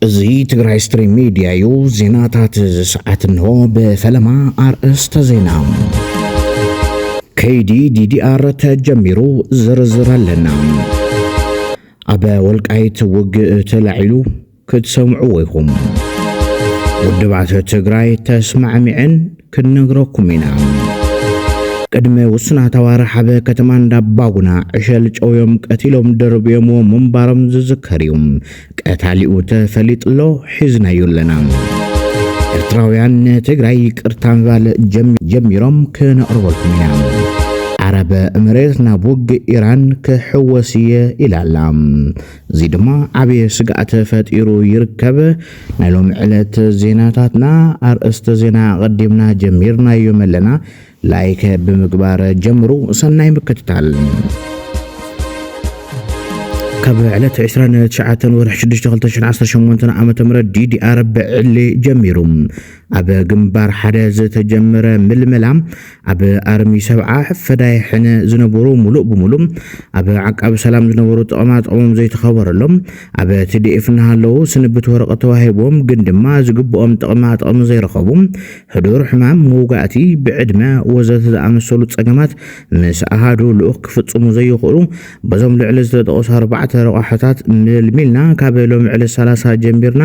እዚ ትግራይ ስትሪም ሚድያ እዩ። ዜናታት እዚ ሰዓት እንሆ ብፈለማ ኣርእስተ ዜና ከይዲ ዲዲኣር ተጀሚሩ ዝርዝር ኣለና። ኣብ ወልቃይት ውግእ ተላዒሉ ክትሰምዕዎ ኢኹም። ውድብ ዓሰብ ትግራይ ተስማዕሚዐን ክንነግረኩም ኢና። ቅድሚ ውሱናት ኣዋርሕ ኣብ ከተማ እንዳባጉና ዕሸል ጨውዮም ቀቲሎም ደርብዮምዎ ምንባሮም ዝዝከር እዩ። ቀታሊኡ ተፈሊጡ ኣሎ፣ ሒዝናዮ ኣለና። ኤርትራውያን ንትግራይ ይቅርታ ምባል ጀሚሮም ክነቕርበልኩም ኢና። ዓረብ እምሬት ናብ ውግእ ኢራን ክሕወስ እየ ኢላ ኣላ። እዚ ድማ ዓብዪ ስግኣት ፈጢሩ ይርከብ። ናይ ሎሚ ዕለት ዜናታትና ኣርእስተ ዜና ኣቐዲምና ጀሚርናዮም ኣለና። ላይክ ብምግባር ጀምሩ። ሰናይ ምክትታል። ካብ ዕለት 29 ወርሒ 6 2018 ዓ ም ዲዲኣር ብዕሊ ጀሚሩ ኣብ ግንባር ሓደ ዝተጀመረ ምልመላ ኣብ ኣርሚ ሰብዓ ፈዳይ ሕነ ዝነበሩ ሙሉእ ብሙሉእ ኣብ ዓቃቢ ሰላም ዝነበሩ ጥቕማ ጥቕሞም ዘይተኸበረሎም ኣብ ቲዲኤፍ እናሃለዉ ስንብት ወረቐት ተዋሂቦም ግን ድማ ዝግብኦም ጥቕማ ጥቕሚ ዘይረኸቡ ሕዱር ሕማም መውጋእቲ ብዕድመ ወዘተ ዝኣመሰሉ ፀገማት ምስ ኣሃዱ ልኡኽ ክፍፅሙ ዘይኽእሉ በዞም ልዕሊ ዝተጠቕሱ ኣርባዕተ ረቋሕታት ምልሚልና ካብ ሎሚ ዕለት 30 ጀሚርና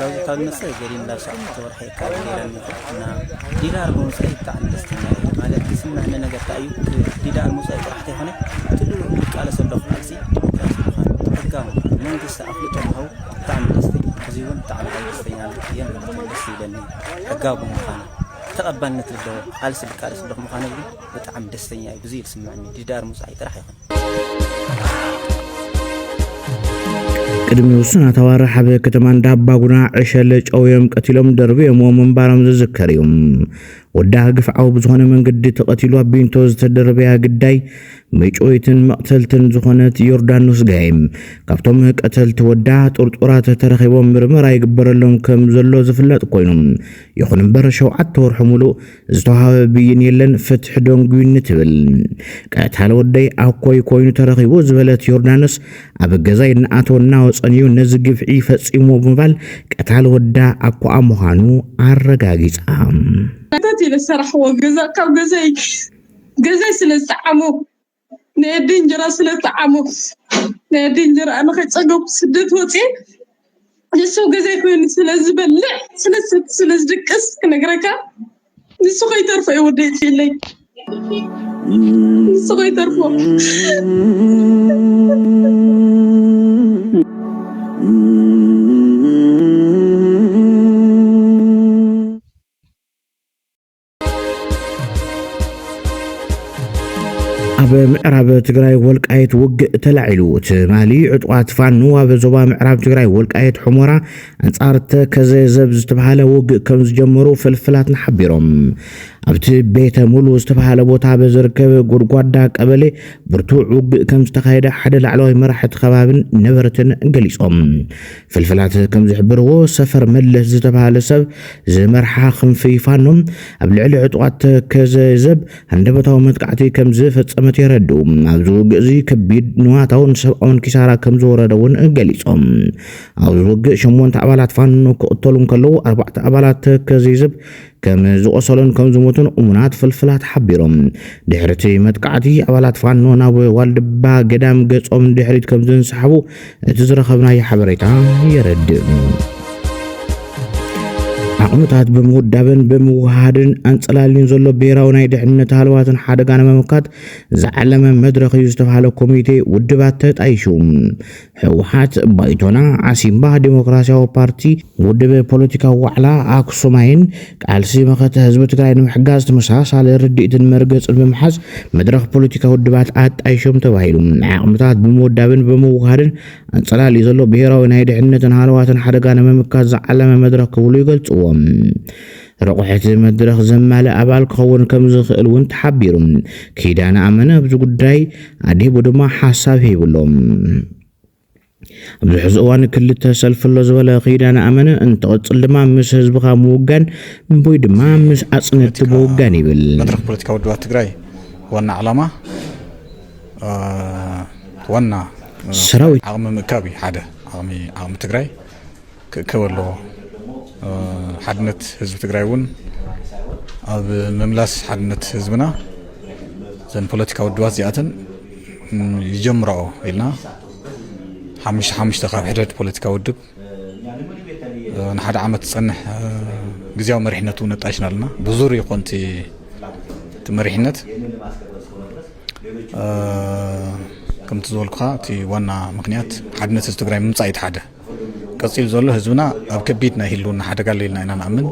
ላውዚታዊመሰ ገሪን ላብ ሸዓተ ወርሒ ካብ ገይረ ነይረ እና ዲዳር ብምውፃኢ ብጣዕሚ ደስተኛ እየ ማለት ዝስምዐኒ ነገር እንታይ እዩ ዲዳር ምውፃኢ ጥራሕ ተይኮነ ትሉ ዝቃለሰ ኣለኹ ቃልሲ ዲሞክራሲ ምዃን ሕጋዊ ምዃን መንግስቲ ኣፍልጦ ምሃቡ ብጣዕሚ ደስተኛ እዚ እውን ብጣዕሚ ካብ ደስተኛ እየ ማለት እዩ ደስ ይብለኒ ሕጋዊ ብምዃኑ ተቐባልነት ዘለዎ ቃልሲ ዝቃለስ ኣለኹ ምዃኑ ግን ብጣዕሚ ደስተኛ እየ ብዙይ ዝስምዐኒ ዲዳር ምውፃኢ ጥራሕ ይኹን ቅድሚ ውሱናት ኣዋርሕ ኣብ ከተማ እንዳባጉና ዕሸለ ጨውዮም ቀቲሎም ደርብዮምዎ ምንባሮም ዝዝከር እዩ። ወዳ ግፍዓዊ ብዝኾነ መንገዲ ተቐቲሉ ኣብ ቢንቶ ዝተደረበያ ግዳይ ምጭውይትን መቕተልትን ዝኾነት ዮርዳኖስ ጋይም ካብቶም ቀተልቲ ወዳ ጥርጡራት ተረኺቦም ምርመራ ይግበረሎም ከም ዘሎ ዝፍለጥ ኮይኑ ይኹን እምበር ሸውዓተ ወርሑ ሙሉእ ዝተዋሃበ ብይን የለን ፍትሒ ደንጉዩኒ ትብል ቀታሊ ወደይ ኣኮይ ኮይኑ ተረኺቡ ዝበለት ዮርዳኖስ ኣብ ገዛይ እናኣተወ እናወፀን እዩ ነዚ ግፍዒ ፈፂሞ ብምባል ቀታሊ ወዳ ኣኮኣ ምዃኑ ኣረጋጊፃ ከተት ኢለ ሰራሕዎ ገዛ ካብ ገዛይ ገዛይ ስለ ዝጠዓሞ ንኣደ እንጀራ ስለ እትዓሙ ንኣደ እንጀራ ንኸይፀገቡ ስደት ወፂኤ ንሱ ገዛይ ኮይኑ ስለ ዝበልዕ ስለ ዝሰቲ ስለ ዝድቅስ ክነግረካ ንሱ ከይተርፎ እዩ ወደይ ፅኢለይ ንሱ ከይተርፎ ኣብ ምዕራብ ትግራይ ወልቃየት ውግእ ተላዒሉ ትማሊ ዕጡቓት ፋኖ ኣብ ዞባ ምዕራብ ትግራይ ወልቃየት ሑሞራ ኣንጻር ተከዘ ዘብ ዝተባሃለ ውግእ ከም ዝጀመሩ ፍልፍላትና ሓቢሮም ኣብቲ ቤተ ሙሉ ዝተባሃለ ቦታ በዝርከብ ጎድጓዳ ቀበሌ ብርቱዕ ውግእ ከም ዝተኻየደ ሓደ ላዕለዋይ መራሕቲ ከባብን ነበርትን ገሊጾም ፍልፍላት ከም ዝሕብርዎ ሰፈር መለስ ዝተባህለ ሰብ ዝመርሓ ክንፊ ፋኖ ኣብ ልዕሊ ዕጡቓት ተከዘ ዘብ ሃንደበታዊ መጥቃዕቲ ከም ዝፈጸመት የረድኡ። ኣብዚ ውግእ እዚ ከቢድ ንዋታውን ሰብኣውን ኪሳራ ከም ዝወረደ እውን ገሊጾም። ኣብዚ ውግእ ሸሞንተ ኣባላት ፋኖ ክቕተሉ እንከለዉ ኣርባዕተ ኣባላት ተከዘ ዘብ ከም ዝቖሰሉን ከም ዝሞቱን እሙናት ፍልፍላት ሓቢሮም። ድሕሪ እቲ መጥቃዕቲ ኣባላት ፋኖ ናብ ዋልድባ ገዳም ገጾም ንድሕሪት ከም ዝንሰሓቡ እቲ ዝረኸብናዮ ሓበሬታ የረድእ። ዓቕምታት ብምውዳብን ብምውሃድን ኣንጸላልዩን ዘሎ ብሔራዊ ናይ ድሕነት ሃለዋትን ሓደጋ ንምምካት ዝዓለመ መድረኽ እዩ ዝተባሃለ ኮሚቴ ውድባት ተጣይሹ ህወሓት ባይቶና ዓሲምባ ዴሞክራሲያዊ ፓርቲ ውድብ ፖለቲካዊ ዋዕላ ኣክሱማይን ቃልሲ መኸተ ህዝቢ ትግራይ ንምሕጋዝ ተመሳሳሊ ርድኢትን መርገፅን ብምሓዝ መድረኽ ፖለቲካ ውድባት ኣጣይሾም ተባሂሉ ዓቕምታት ብምውዳብን ብምውሃድን ኣንፀላልዩ ዘሎ ብሄራዊ ናይ ድሕነትን ሃለዋትን ሓደጋ ንምምካት ዝዓለመ መድረኽ ክብሉ ይገልፅዎም። ረቑሒ'ቲ መድረኽ ዘማልእ ኣባል ክኸውን ከምዝኽእል እውን ተሓቢሩ። ኪዳነ ኣመነ ኣብዚ ጉዳይ ኣድሂቡ ድማ ሓሳብ ሂቡ ኣሎ። ኣብዚ ሕዚ እዋን ክልተ ሰልፊ ኣሎ ዝበለ ኪዳነ ኣመነ፣ እንትቕፅል ድማ ምስ ህዝብኻ ምውጋን ወይ ድማ ምስ ኣፅነትቲ ምውጋን ይብል። መድረኽ ፖለቲካ ውድባት ትግራይ ዋና ዕላማ ዋና ሰራዊት ዓቕሚ ምእካብ እዩ ሓደ ዓቕሚ ትግራይ ክእከብ ኣለዎ። ሓድነት ህዝቢ ትግራይ እውን ኣብ ምምላስ ሓድነት ህዝብና ዘን ፖለቲካ ውድባት እዚኣተን ይጀምራኦ ኢልና ሓሙሽተ ሓሙሽተ ካብ ሕደድ ፖለቲካ ውድብ ንሓደ ዓመት ዝፀንሕ ግዜያዊ መሪሕነት እውን ነጣይሽና ኣለና ብዙር ይኾን እቲ መሪሕነት ከምቲ ዝበልኩኻ እቲ ዋና ምክንያት ሓድነት ህዝቢ ትግራይ ምምፃእ እዩ ሓደ ቀፂሉ ዘሎ ህዝብና ኣብ ከቢድ ናይ ህልውና ሓደጋ ኣሎ ኢልና ኢና ንኣምን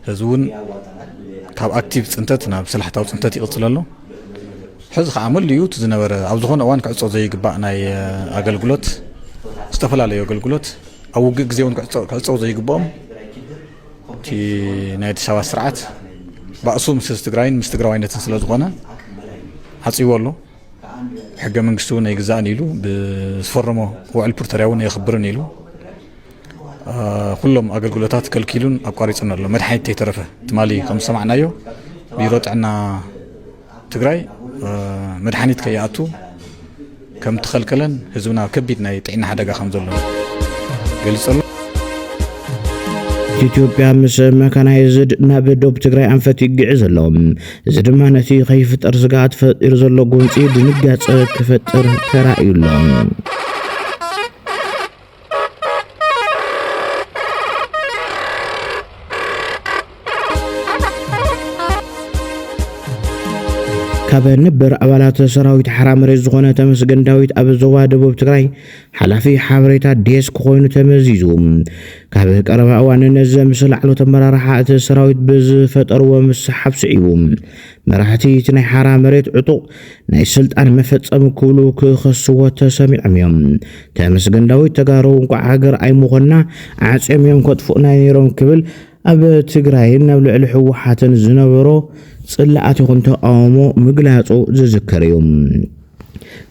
ህዝቢ እውን ካብ ኣክቲቭ ፅንተት ናብ ስላሕታዊ ፅንተት ይቕፅል ኣሎ ሕዚ ከዓ መሊኡ እቲ ዝነበረ ኣብ ዝኾነ እዋን ክዕፆ ዘይግባእ ናይ ኣገልግሎት ዝተፈላለዩ ኣገልግሎት ኣብ ውግእ ግዜ እውን ክዕፀው ዘይግብኦም እቲ ናይ ኣዲስ ኣበባ ስርዓት ባእሱ ምስ ትግራይን ምስ ትግራዋይነትን ስለ ዝኾነ ዓፅዎ ኣሎ ሕገ መንግስቲ እውን ኣይግዛእን ኢሉ ብዝፈረሞ ውዕል ፕሪቶርያ እውን ኣየኽብርን ኢሉ ኩሎም ኣገልግሎታት ከልኪሉን ኣቋሪፅን ኣሎ መድሓኒት ተይተረፈ ትማሊ ከም ዝሰማዕናዮ ቢሮ ጥዕና ትግራይ መድሓኒት ከይኣቱ ከም ተኸልከለን ህዝብና ከቢድ ናይ ጥዕና ሓደጋ ከም ዘሎ ገሊጹ ኣሎ ኢትዮጵያ ምስ መካናይዝድ ናብ ዶብ ትግራይ ኣንፈት ይግዕዝ ኣሎ እዚ ድማ ነቲ ከይፍጠር ስግኣት ፈጢሩ ዘሎ ጎንፂ ድንጋፀ ክፈጥር ተራእዩ ኣሎ። ካብ ነበር ኣባላት ሰራዊት ሓራ መሬት ዝኾነ ተመስገን ዳዊት ኣብ ዞባ ደቡብ ትግራይ ሓላፊ ሓበሬታ ዴስክ ኮይኑ ተመዚዙ። ካብ ቀረባ እዋን ነዚ ምስ ላዕሎት ኣመራርሓ እቲ ሰራዊት ብዝፈጠርዎ ምስሓብ ስዒቡ መራሕቲ እቲ ናይ ሓራ መሬት ዕጡቕ ናይ ስልጣን መፈጸሚ ክብሉ ክኸስዎ ተሰሚዖም እዮም። ተመስገን ዳዊት ተጋሩ እንቋዕ ሃገር ኣይምኾንና ዓጽዮም እዮም ከጥፍኡና ነይሮም ክብል ኣብ ትግራይን ኣብ ልዕሊ ህወሓትን ዝነበሮ ጽላኣት ይኹን ተቓውሞ ምግላጹ ዝዝከር እዩ።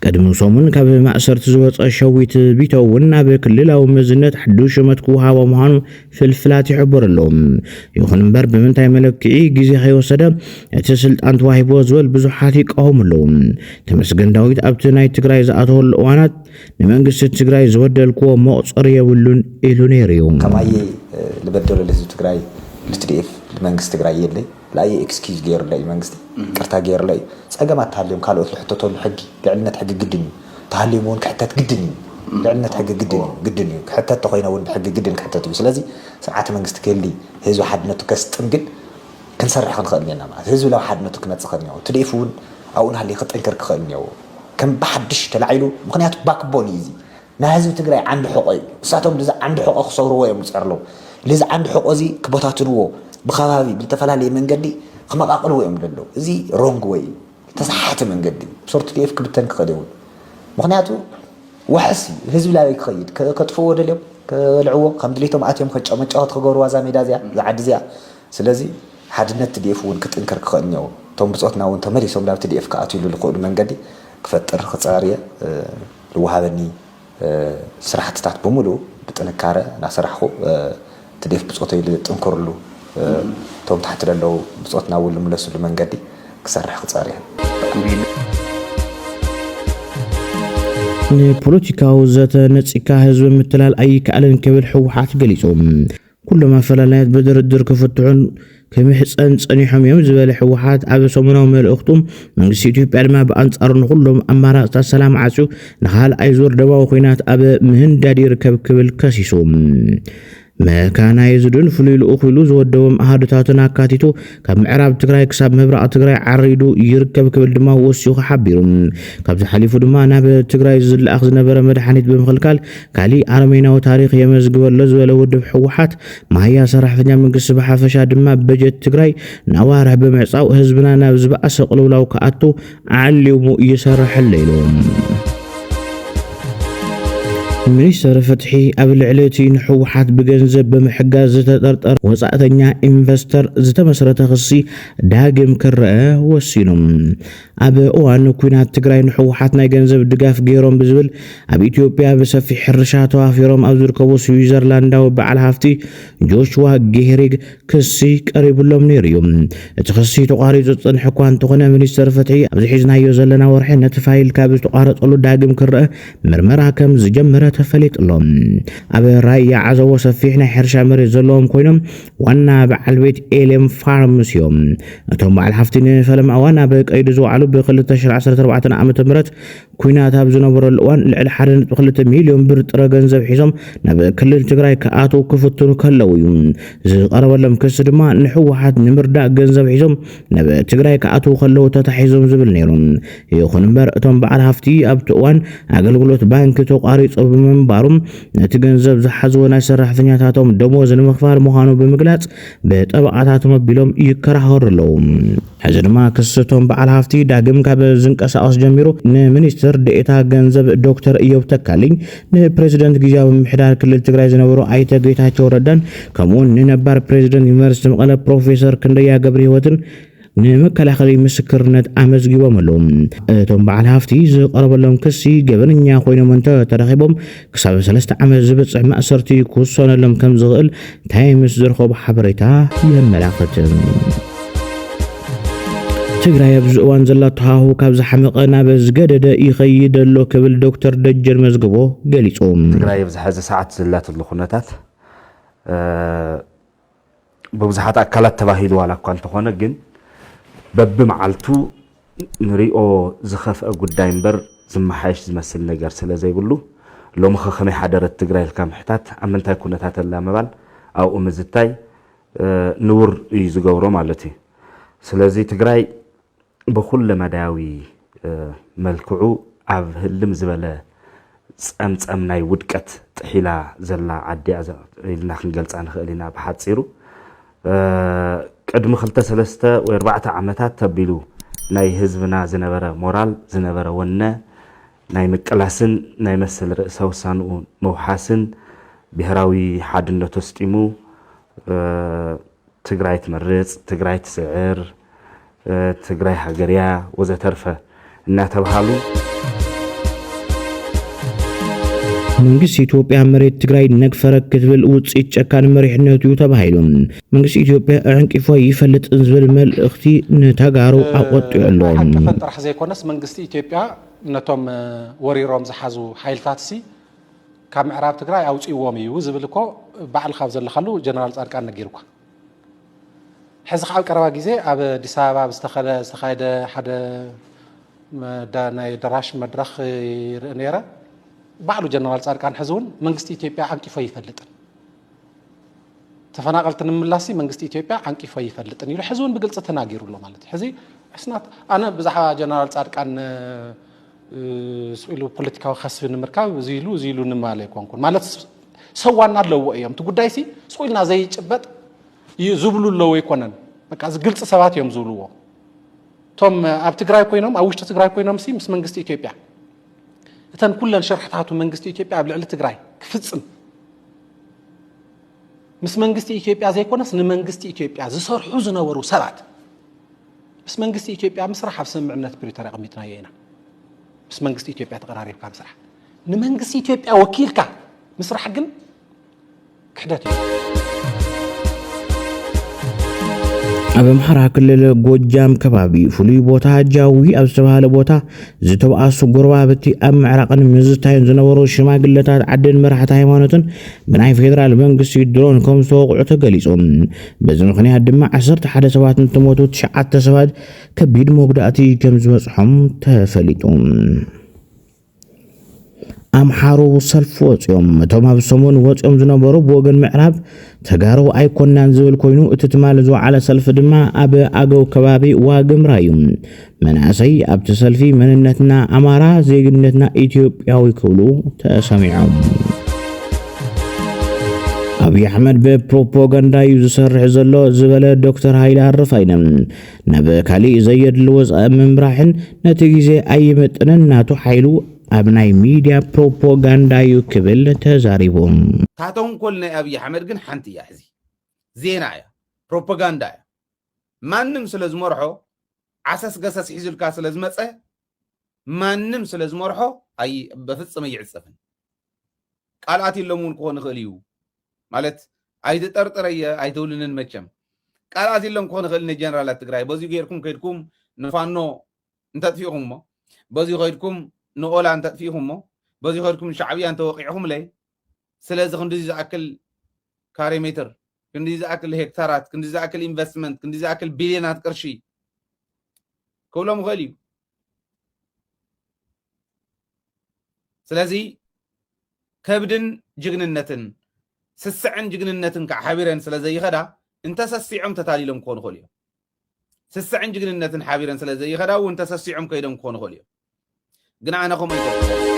ቅድሚ ሰሙን ካብ ማእሰርቲ ዝወጸ ሸዊት ቢተው እውን ናብ ክልላዊ መዝነት ሓዱሽ ሹመት ክወሃቦ ምዃኑ ፍልፍላት ይሕብሩ ኣለዉ። ይኹን እምበር ብምንታይ መለክዒ ግዜ ከይወሰደ እቲ ስልጣን ተዋሂቦ ዝብል ብዙሓት ይቃወሙ ኣለዉ። ተመስገን ዳዊት ኣብቲ ናይ ትግራይ ዝኣተወሉ እዋናት ንመንግስቲ ትግራይ ዝበደልክዎ መቑጸሪ የብሉን ኢሉ ነይሩ እዩ። ከማይ ልበደሎ ልህዝቢ ትግራይ ልትድኤፍ ልመንግስቲ ትግራይ የለይ። ላየ ኤክስኪዩዝ ገይሩለይ እዩ መንግስቲ ይቅርታ ገይሩለይ እዩ ፀገማት ተሃልዮም ካልኦት ዝሕተተሉ ሕጊ ልዕልነት ሕጊ ግድን እዩ ተሃልዮም እውን ክሕተት ግድን እዩ ልዕልነት ሕጊ ግድን እዩ ግድን እዩ ክሕተት ተኮይነ እውን ብሕጊ ግድን ክሕተት እዩ ስለዚ ስርዓተ መንግስቲ ክህሊ ህዝቢ ሓድነቱ ከስጥም ግን ክንሰርሕ ክንክእል እኒና ማለት ህዝቢ ናብ ሓድነቱ ክመፅእ ክእል እኒዎ ትዲኤፍ እውን ኣብኡ ናሃለየ ክጥንክር ክክእል እኒዎ ከም ብሓድሽ ተላዒሉ ምክንያቱ ባክቦን እዩ እዚ ናይ ህዝቢ ትግራይ ዓንዲ ሕቆ እዩ ንሳቶም ልዚ ዓንዲ ሕቆ ክሰብርዎ እዮም ዝፀርለው ልዚ ዓንዲ ሕቆ እዚ ክበታትንዎ ብከባቢ ብልተፈላለየ መንገዲ ክመቃቅልዎ እዮም ደለው እዚ ሮንግ ወይ እዩ ተሳሓተ መንገዲ እዩ ሶር ቲዲኤፍ ክብተን ክኽእል ይውን ምክንያቱ ዋሕስ እዩ ህዝቢ ላበይ ክኸይድ ከጥፍዎ ደልዮም ከበልዕዎ ከም ድሌቶም ኣትዮም ከጨመጫወት ክገብርዋ እዛ ሜዳ እዚኣ እዛ ዓዲ እዚኣ ስለዚ ሓድነት ቲዲኤፍ እውን ክጥንከር ክኽእል እኒዎ እቶም ብፆትና እውን ተመሊሶም ናብ ቲዲኤፍ ክኣትውሉ ዝኽእሉ መንገዲ ክፈጥር ክፃር እየ ልወሃበኒ ስራሕትታት ብምልኡ ብጥንካረ ናሰራሕኹ ትዴፍ ብፆተይ ልጥንክርሉ እቶም ታሕቲ ለለዉ ብፆት ናብኡ ልምለስሉ መንገዲ ክሰርሕ ክፀር እየ። ንፖለቲካዊ ዘተ ነፂግካ ህዝቢ ምትላል ኣይከኣልን ክብል ህወሓት ገሊፁ። ኩሎም ኣፈላላያት ብድርድር ክፍትሑን ክምሕፀን ፀኒሖም እዮም ዝበለ ህወሓት ኣብ ሰሙናዊ መልእኽቱ መንግስቲ ኢትዮጵያ ድማ ብኣንፃሩ ንኩሎም ኣማራፅታት ሰላም ዓፅዩ ንካልኣይ ዙር ደማዊ ኩናት ኣብ ምህንዳድ ይርከብ ክብል ከሲሱ። መካናይዝድን ፍሉይ ልኡኽ ኢሉ ዝወደቦም ኣሃዱታትን ኣካቲቱ ካብ ምዕራብ ትግራይ ክሳብ ምብራቕ ትግራይ ዓሪዱ ይርከብ ክብል ድማ ወሲኹ ሓቢሩ። ካብዚ ሓሊፉ ድማ ናብ ትግራይ ዝለኣኽ ዝነበረ መድሓኒት ብምኽልካል ካሊእ ኣረሜናዊ ታሪኽ የመዝግበ ኣሎ ዝበለ ውድብ ህወሓት መሃያ ሰራሕተኛ መንግስቲ ብሓፈሻ ድማ በጀት ትግራይ ንኣዋርሕ ብምዕፃው ህዝብና ናብ ዝበኣሰ ቅልውላው ክኣቱ ዓሊሙ ይሰርሐለይ ኢሎም። ሚኒስትሪ ፍትሒ ኣብ ልዕሊ እቲ ንሕወሓት ብገንዘብ ብምሕጋዝ ዝተጠርጠረ ወፃእተኛ ኢንቨስተር ዝተመስረተ ክሲ ዳግም ክረአ ወሲኑ። ኣብ እዋን ኩናት ትግራይ ንሕወሓት ናይ ገንዘብ ድጋፍ ገይሮም ብዝብል ኣብ ኢትዮጵያ ብሰፊሕ ሕርሻ ተዋፊሮም ኣብ ዝርከቡ ስዊዘርላንዳዊ በዓል ሃፍቲ ጆሽዋ ጌህሪግ ክሲ ቀሪቡሎም ነይሩ እዩ። እቲ ክሲ ተቋሪፁ ዝፀንሐ እኳ እንተኾነ ሚኒስቴር ፍትሒ ኣብዚ ሒዝናዮ ዘለና ወርሒ ነቲ ፋይል ካብ ዝተቋረፀሉ ዳግም ክረእ ምርመራ ከም ዝጀመረ ተፈሊጡ ኣሎ። ኣብ ራያ ዓዘቦ ሰፊሕ ናይ ሕርሻ መሬት ዘለዎም ኮይኖም ዋና በዓል ቤት ኤሌም ፋርምስ እዮም። እቶም በዓል ሓፍቲ ንፈለማ እዋን ኣብ ቀይዲ ዝወዓሉ ብ2014 ዓ.ም ኲናት ኣብ ዝነበረሉ እዋን ልዕሊ ሓደ ነጥቢ ክልተ ሚልዮን ብር ጥረ ገንዘብ ሒዞም ናብ ክልል ትግራይ ክኣትዉ ክፍትኑ ከለዉ እዩ። ዝቐረበሎም ክሲ ድማ ንህወሓት ንምርዳእ ገንዘብ ሒዞም ናብ ትግራይ ክኣትዉ ከለዉ ተታሒዞም ዝብል ነይሩ። ይኹን እምበር እቶም በዓል ሃፍቲ ኣብቲ እዋን ኣገልግሎት ባንኪ ተቋሪፁ ብምንባሩ ነቲ ገንዘብ ዝሓዝዎ ናይ ሰራሕተኛታቶም ደሞዝ ንምኽፋል ምዃኑ ብምግላፅ ብጠበቓታቶም ኣቢሎም ይከራኸሩ ኣለዉ። ሕዚ ድማ ክሲ እቶም በዓል ሃፍቲ ዳግም ካብ ዝንቀሳቐስ ጀሚሩ ንሚኒስትር ዴኤታ ገንዘብ ዶክተር እዮብ ተካልኝ፣ ንፕሬዝደንት ግዝያዊ ምምሕዳር ክልል ትግራይ ዝነበሩ ኣይተ ጌታቸው ረዳን ከምኡ ውን ንነባር ፕሬዝደንት ዩኒቨርስቲ መቐለ ፕሮፌሰር ክንደያ ገብርሂወትን ንመከላኸሊ ምስክርነት ኣመዝጊቦም ኣለዉ። እቶም በዓል ሃፍቲ ዝቐረበሎም ክሲ ገበነኛ ኮይኖም እንተተረኺቦም ክሳብ ሰለስተ ዓመት ዝበጽሕ ማእሰርቲ ክውሰነሎም ከም ዝኽእል ታይምስ ዝረኸቦ ሓበሬታ የመላኽት። ትግራይ ኣብዚ እዋን ዘላቶ ሃሁ ካብ ዝሓመቐ ናብ ዝገደደ ይኸይድ ኣሎ ክብል ዶክተር ደጀን መዝግቦ ገሊጹ። ትግራይ ኣብዚ ሕዚ ሰዓት ዘላትሉ ኩነታት ብብዙሓት ኣካላት ተባሂሉ ዋላ እኳ እንተኾነ ግን በብመዓልቱ ንሪኦ ዝኸፍኣ ጉዳይ እምበር ዝመሓየሽ ዝመስል ነገር ስለዘይብሉ ሎምኸ ከመይ ሓደረት ትግራይ ኢልካ ምሕታት ኣብ ምንታይ ኩነታት ኣላ ምባል ኣብኡ ምዝታይ ንቡር እዩ ዝገብሮ ማለት እዩ። ስለዚ ትግራይ ብኩለመዳያዊ መልክዑ ኣብ ህልም ዝበለ ጸምጸም ናይ ውድቀት ጥሒላ ዘላ ዓዲ'ያ ኢልና ክንገልጻ ንኽእል ኢና ብሓጺሩ። ቅድሚ ክልተ ሰለስተ ወይ ኣርባዕተ ዓመታት ተቢሉ ናይ ህዝብና ዝነበረ ሞራል ዝነበረ ወነ ናይ ምቅላስን ናይ መሰል ርእሰ ውሳንኡ ምውሓስን ብሄራዊ ሓድነቱ ኣስጢሙ ትግራይ ትመርፅ፣ ትግራይ ትስዕር፣ ትግራይ ሃገርያ ወዘተርፈ እናተብሃሉ መንግስቲ ኢትዮጵያ መሬት ትግራይ ነግፈረ ክትብል ውፅኢት ጨካን መሪሕነቱ እዩ ተባሂሉ መንግስቲ ኢትዮጵያ ኣዕንቂፎ ይፈልጥን ዝብል መልእኽቲ ንተጋሩ ኣቆጢዑ ኣሎ። ኣይሓቀፈን ጥራሕ ዘይኮነስ መንግስቲ ኢትዮጵያ ነቶም ወሪሮም ዝሓዙ ሓይልታትሲ ካብ ምዕራብ ትግራይ ኣውፅእዎም እዩ ዝብል እኮ ባዕልካ ኣብ ዘለካሉ ጀነራል ፃድቃን ነጊሩካ። ሕዚ ከዓ ኣብ ቀረባ ግዜ ኣብ ኣዲስ ኣበባ ኣብ ዝተኸደ ዝተኻየደ ሓደ ናይ ደራሽ መድረኽ ይርኢ ነይረ ባዕሉ ጀነራል ፃድቃን ሕዚ እውን መንግስቲ ኢትዮጵያ ዓንቂፎ ኣይፈልጥን ተፈናቐልቲ ንምምላሲ መንግስቲ ኢትዮጵያ ዓንቂፎ ኣይፈልጥን ኢሉ ሕዚ እውን ብግልፂ ተናጊሩ ኣሎ ማለት እዩ ሕዚ ሕስናት ኣነ ብዛዕባ ጀነራል ፃድቃን ኢሉ ፖለቲካዊ ከስቢ ንምርካብ እዚ ኢሉ እዚ ኢሉ ንማለ ኣይኮንኩን ማለት ሰብ ዋና ኣለዎ እዮም እቲ ጉዳይ ሲ ስቑ ኢልና ዘይጭበጥ ዝብሉ ኣለዎ ኣይኮነን በቃ እዚ ግልፂ ሰባት እዮም ዝብልዎ እቶም ኣብ ትግራይ ኮይኖም ኣብ ውሽጢ ትግራይ ኮይኖም ሲ ምስ መንግስቲ ኢትዮጵያ እተን ኩለን ሸርሕታቱ መንግስቲ ኢትዮጵያ ኣብ ልዕሊ ትግራይ ክፍጽም ምስ መንግስቲ ኢትዮጵያ ዘይኮነስ ንመንግስቲ ኢትዮጵያ ዝሰርሑ ዝነበሩ ሰባት ምስ መንግስቲ ኢትዮጵያ ምስራሕ ኣብ ስምምዕነት ፕሪቶርያ ኣቐሚጥናዮ ኢና ምስ መንግስቲ ኢትዮጵያ ተቐራሪብካ ምስራሕ ንመንግስቲ ኢትዮጵያ ወኪልካ ምስራሕ ግን ክሕደት እዩ። ኣብ ኣምሓራ ክልል ጎጃም ከባቢ ፍሉይ ቦታ ጃዊ ኣብ ዝተባሃለ ቦታ ዝተባኣሱ ጎረባብቲ ኣብ ምዕራቕን ምዝታይን ዝነበሩ ሽማግለታት ዓድን መራሕቲ ሃይማኖትን ብናይ ፌዴራል መንግስቲ ድሮን ከም ዝተወቕዑ ተገሊጹ። በዚ ምክንያት ድማ 11 ሰባት እንትሞቱ ትሽዓተ ሰባት ከቢድ መጉዳእቲ ከም ዝበጽሖም ተፈሊጡ። ኣምሓሩ ሰልፊ ወፂኦም። እቶም ኣብ ሰሙን ወፂኦም ዝነበሩ ብወገን ምዕራብ ተጋሩ ኣይኮናን ዝብል ኮይኑ እቲ ትማሊ ዝወዓለ ሰልፊ ድማ ኣብ ኣገው ከባቢ ዋግምራ እዩ። መናእሰይ ኣብቲ ሰልፊ መንነትና ኣማራ ዜግነትና ኢትዮጵያዊ ክብሉ ተሰሚዖም። ኣብዪ ኣሕመድ ብፕሮፓጋንዳ እዩ ዝሰርሕ ዘሎ ዝበለ ዶክተር ሃይለ ኣረፋይነ ናብ ካሊእ ዘየድሊ ወፃኢ ምምራሕን ነቲ ግዜ ኣይምጥንን ናቱ ሓይሉ ኣብ ናይ ሚድያ ፕሮፖጋንዳ እዩ ክብል ተዛሪቡ። እታ ተንኮል ናይ ኣብይ ኣሕመድ ግን ሓንቲ እያ ሕዚ ዜና እያ ፕሮፖጋንዳ እያ ማንም ስለ ዝመርሖ ዓሰስ ገሰስ ሒዙልካ ስለ ዝመፀ ማንም ስለ ዝመርሖ ኣይ በፍፅም ኣይዕፀፍን ቃልኣት ኢሎም እውን ክኾን ይኽእል እዩ ማለት ኣይትጠርጥረየ ኣይትብልንን መቸም ቃልኣት ኢሎም ክኾን ይኽእል ንጀነራላት ትግራይ በዚ ጌርኩም ከድኩም ንፋኖ እንተጥፊእኹምሞ በዚ ከድኩም ንኦላ እንተጥፊእኹምሞ በዚ ከድኩም ንሻዕብያ እንተወቂዕኹምለይ ስለዚ ክንዲዚ ዝኣክል ካሬ ሜትር ክንዲ ዝኣክል ሄክታራት ክንዲ ዝኣክል ኢንቨስትመንት ክንዲ ዝኣክል ቢልዮናት ቅርሺ ክብሎም ይኽእል እዩ ስለዚ ከብድን ጅግንነትን ስስዐን ጅግንነትን ከዓ ሓቢረን ስለ ዘይኸዳ እንተሰሲዖም ተታሊሎም ክኾኑ ይኽእሉ እዮም ስስዐን ጅግንነትን ሓቢረን ስለ ዘይኸዳ እውን ተሰሲዖም ከይዶም ክኾኑ ይኽእሉ እዮም ግን ኣነ ከምኡ ይገብር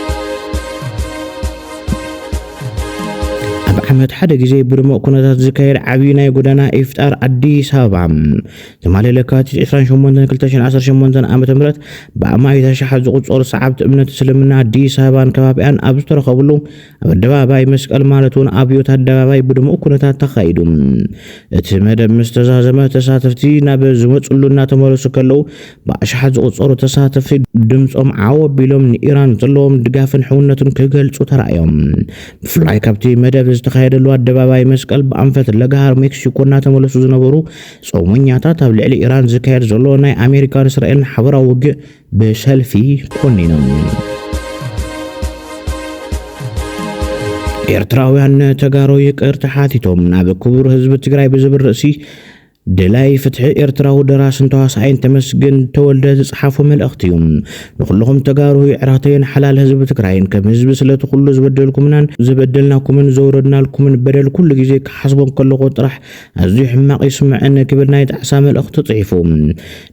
ኣብ ዓመት ሓደ ግዜ ብድሙቕ ኩነታት ዝካየድ ዓብዪ ናይ ጎደና ኢፍጣር ኣዲስ ኣበባ ትማሊ ለካቲት ዕስራን ሸሞንተን ክልተ ሽሕን ዓሰርተ ሸሞንተን ዓመተ ምህረት ብኣማኢት ኣሽሓት ዝቑጸሩ ሰዓብቲ እምነት እስልምና ኣዲስ ኣበባን ከባቢኣን ኣብ ዝተረኸብሉ ኣብ ኣደባባይ መስቀል ማለት እውን ኣብዮት ኣደባባይ ብድሙቕ ኩነታት ተኻይዱ። እቲ መደብ ምስ ተዛዘመ ተሳተፍቲ ናብ ዝመጽሉ እናተመለሱ ከለዉ ብኣሽሓት ዝቑጸሩ ተሳተፍቲ ድምጾም ዓው ኣቢሎም ንኢራን ዘለዎም ድጋፍን ሕውነትን ክገልጹ ተራእዮም። ብፍላይ ካብቲ መደብ ዝተኻየደሉ ኣደባባይ መስቀል ብኣንፈት ለጋሃር ሜክሲኮ እናተመለሱ ዝነበሩ ጾመኛታት ኣብ ልዕሊ ኢራን ዝካየድ ዘሎ ናይ ኣሜሪካን እስራኤልን ሓበራዊ ውግእ ብሰልፊ ኮኒኖም። ኤርትራውያን ተጋሩ ይቅርታ ሓቲቶም ናብ ክቡር ህዝቢ ትግራይ ብዝብል ርእሲ ድላይ ፍትሒ ኤርትራዊ ደራስን ተዋሳኣይን ተመስገን ተወልደ ዝጸሓፎ መልእኽቲ እዩ ንኹልኹም ተጋሩ የዕራተይን ሓላል ህዝቢ ትግራይን ከም ህዝቢ ስለቲ ኩሉ ዝበደልኩምናን ዝበደልናኩምን ዘውረድናልኩምን በደል ኩሉ ግዜ ክሓስቦም ከለኹ ጥራሕ ኣዝዩ ሕማቕ እዩ ስምዐኒ ክብል ናይ ጣዕሳ መልእኽቱ ጽሒፉ።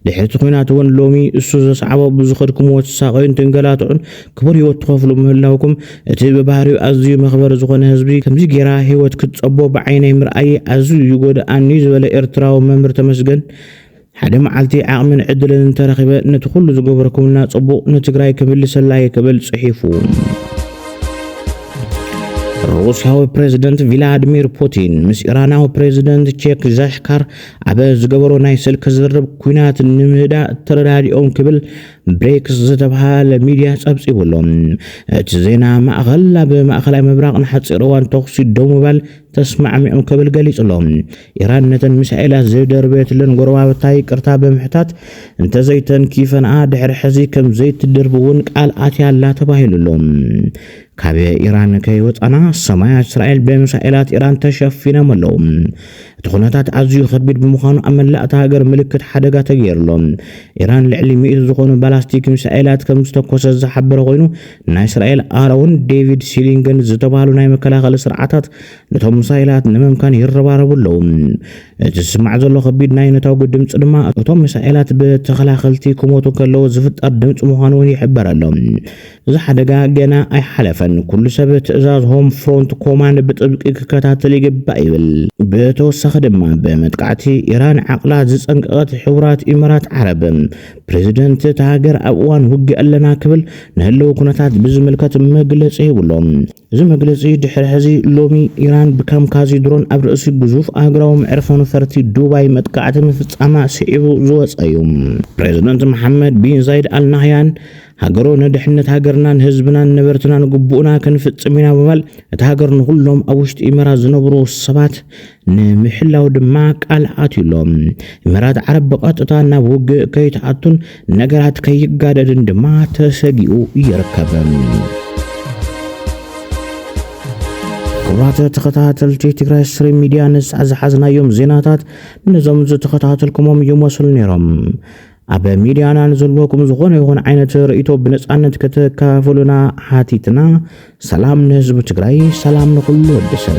ድሕሪ እቲ ኲናት እውን ሎሚ እሱ ዘስዓቦ ብዝኸድኩምዎ ትሳቐዩን ትንገላትዑን ክቡር ህይወት ትኸፍሉ ምህላውኩም እቲ ብባህሪኡ ኣዝዩ መኽበሪ ዝኾነ ህዝቢ ከምዚ ጌራ ህይወት ክትጸቦ ብዓይነይ ምርኣየይ ኣዝዩ እዩ ጎደኣኒ ዝበለ ኤርትራዊ መምህር ተመስገን ሓደ መዓልቲ ዓቕምን ዕድልን እንተረኺበ ነቲ ኩሉ ዝገበርኩምልና ጽቡቕ ንትግራይ ክምልሰላ እየ ክብል ጽሒፉ። ሩስያዊ ፕሬዝደንት ቪላድሚር ፑቲን ምስ ኢራናዊ ፕሬዝደንት ቼክ ዣሽካር ኣብ ዝገበሮ ናይ ስልኪ ዝርርብ ኩናት ንምህዳእ ተረዳዲኦም ክብል ብሬክስ ዝተብሃለ ሚድያ ጸብጺቡ ኣሎ። እቲ ዜና ማእኸል ኣብ ማእኸላይ ምብራቕ ንሓፂር እዋን ተኹሲ ደው ምባል ተስማዕሚዖም ክብል ገሊጹ ኣሎ። ኢራን ነተን ሚሳኤላት ዘይደርበየትለን ጎረባብታ ይቅርታ ብምሕታት እንተዘይተንኪፈንኣ ድሕሪ ሕዚ ከም ዘይትድርቢ እውን ቃል ኣትያ ኣላ ተባሂሉ ኣሎ። ካብ ኢራን ከይወጻና ሰማያት እስራኤል ብሚሳኤላት ኢራን ተሸፊኖም ኣለዉ። እቲ ኩነታት ኣዝዩ ከቢድ ብምዃኑ ኣብ መላእታ ሃገር ምልክት ሓደጋ ተገይርሎ። ኢራን ልዕሊ ሚእቲ ዝኾኑ ባላስቲክ ሚሳኤላት ከም ዝተኮሰ ዝሓበረ ኮይኑ ናይ እስራኤል ኣሮን ዴቪድ ሲሊንገን ዝተባህሉ ናይ መከላኸሊ ስርዓታት ነቶም ሚሳኤላት ንምምካን ይረባረቡ ኣለዉ። እቲ ዝስማዕ ዘሎ ከቢድ ናይ ነታጒ ድምጺ ድማ እቶም ሚሳኤላት ብተኸላኸልቲ ክሞቱ ከለዉ ዝፍጠር ድምጺ ምዃኑ እውን ይሕበር ኣሎ። እዚ ሓደጋ ገና ኣይሓለፈን፣ ኩሉ ሰብ ትእዛዝ ሆም ፍሮንት ኮማንድ ብጥብቂ ክከታተል ይግባእ ይብል። ብተወሳኺ ድማ ብመጥቃዕቲ ኢራን ዓቕላ ዝጸንቀቐት ሕቡራት ኢመራት ዓረብ፣ ፕረዚደንት እታ ሃገር ኣብ እዋን ውግእ ኣለና ክብል ንህልዊ ኩነታት ብዝምልከት መግለጺ ሂቡ ኣሎ። እዚ መግለጺ ድሕሪ ሕዚ ሎሚ ኢራን ብካምካዚ ድሮን ኣብ ርእሲ ግዙፍ ኣህጉራዊ መዕርፎ ነፈርቲ ዱባይ መጥቃዕቲ ምፍጻማ ስዒቡ ዝወጸ እዩ። ፕረዚደንት መሓመድ ቢን ዛይድ ኣል ናህያን ሃገሩ ንድሕነት ሃገርናን ህዝብናን ነበርትናን ግቡእና ክንፍጽም ኢና ብምባል እታ ሃገር ንኹሎም ኣብ ውሽጢ ኢመራት ዝነብሩ ሰባት ንምሕላው ድማ ቃል ኣትዩ ኣሎ። ኢማራት ዓረብ ብቐጥታ ናብ ውግእ ከይትኣቱን ነገራት ከይጋደድን ድማ ተሰጊኡ ይርከብ። ክቡራት ተኸታተልቲ ትግራይ ስትሪም ሚድያ ንሳዕ ዝሓዝናዮም ዜናታት ነዞም ዝተኸታተልኩሞም ይመስሉ ነይሮም። ኣብ ሚድያና ንዘለኩም ዝኾነ ይኹን ዓይነት ርእይቶ ብነፃነት ከተካፍሉና ሓቲትና። ሰላም ንህዝቢ ትግራይ፣ ሰላም ንኹሉ ወዲ ሰብ።